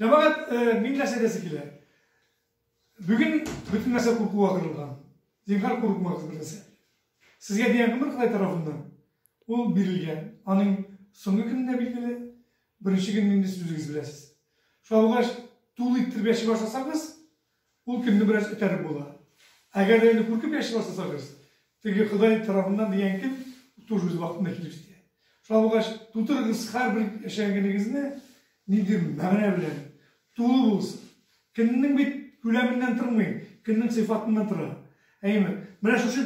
Җәмәгать, мин нәрсә дәсе килә? Бүген бөтен нәрсә куркуга кырылган. Зинхар курыкмагыз бер нәрсә. Сезгә дигән гомер Ходай тарафыннан ул бирелгән. Аның соңгы көнендә билгеле, беренче көнне инде сүзегез беләсез. Шуңа күрә тулы иттереп яши башласагыз, Ул көнне бераз этәреп була. Әгәр дә инде куркып яши башласагыз, теге Ходай тарафыннан дигән көн тоже үз вакытында килеп җитә. Шулай булгач, тутырыгыз һәрбер яшәгән көнегезне нинди мәгънә белән тулы булсын. Көннең бит күләменнән тормый, көннең сыйфатыннан тора. Әйеме? Менә шушы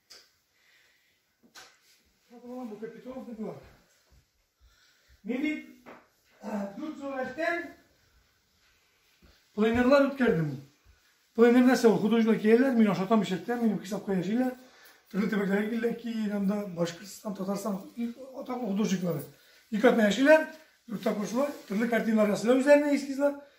Бу капитал дигән. Мин бит дүрт сурәттән пленерлар үткәрдем. Пленер нәрсә ул? Художник кияләр, мин ашатам ишәттә, минем хисапка яшиләр. Төрле төбәкләргә килдек ки, анда Башкортстан, Татарстан атаклы художниклары. Ике атна яшиләр, дүрт тапкыр шулай, төрле картиналар ясыйлар үзләренә эскизлар.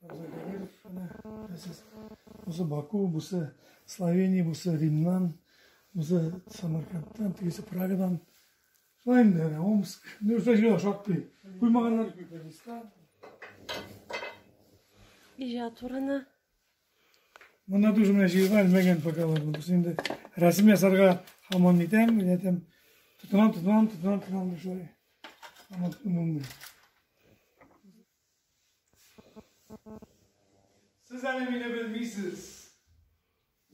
Абзый Давидов, әнә, әсәс. Бусы Баку, бусы Словения, бусы Римнан, бусы Самаркандтан, тегесе Прагадан. Шулай инде, әнә, Омск. Нәрсә җыйла шактый. Куймаганнар. Иҗат урыны. Монда тоже менә җыйла әлмәгән пока бар. Без инде рәсем ясарга хаман итәм, ятәм. Тотынам, тотынам, тотынам, тотынам, шулай. Хаман тотынам. Сез әле мине белмисез.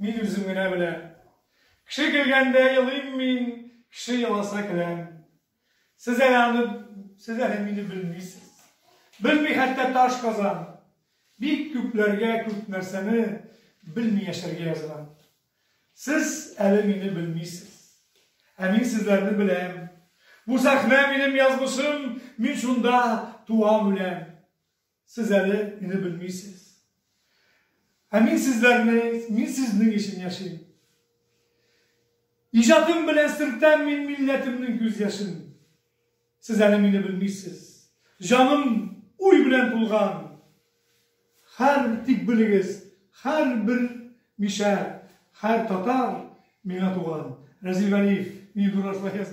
Мин үзем генә беләм. Кеше көлгәндә елыйм мин, кеше еласа көләм. Сез әле аны, сез әле мине белмисез. Белми хәтта таш казан. Бик күпләргә күп нәрсәне белми яшәргә язган. Сез әле мине белмисез. Ә мин сезләрне беләм. Бу сәхнә минем язмышым, мин шунда туам үләм. Сез әле мине белмисез. Ә мин сезләрне, мин сезнең өчен яшим. Иҗатым белән сөртәм мин милләтемнең күз яшен. Сез әле мине белмисез. Җаным уй белән тулган. Хәр тик белегез, хәр бер мишәр, хәр татар миңа туган. Разил Вәлиев, мин дураш ваяз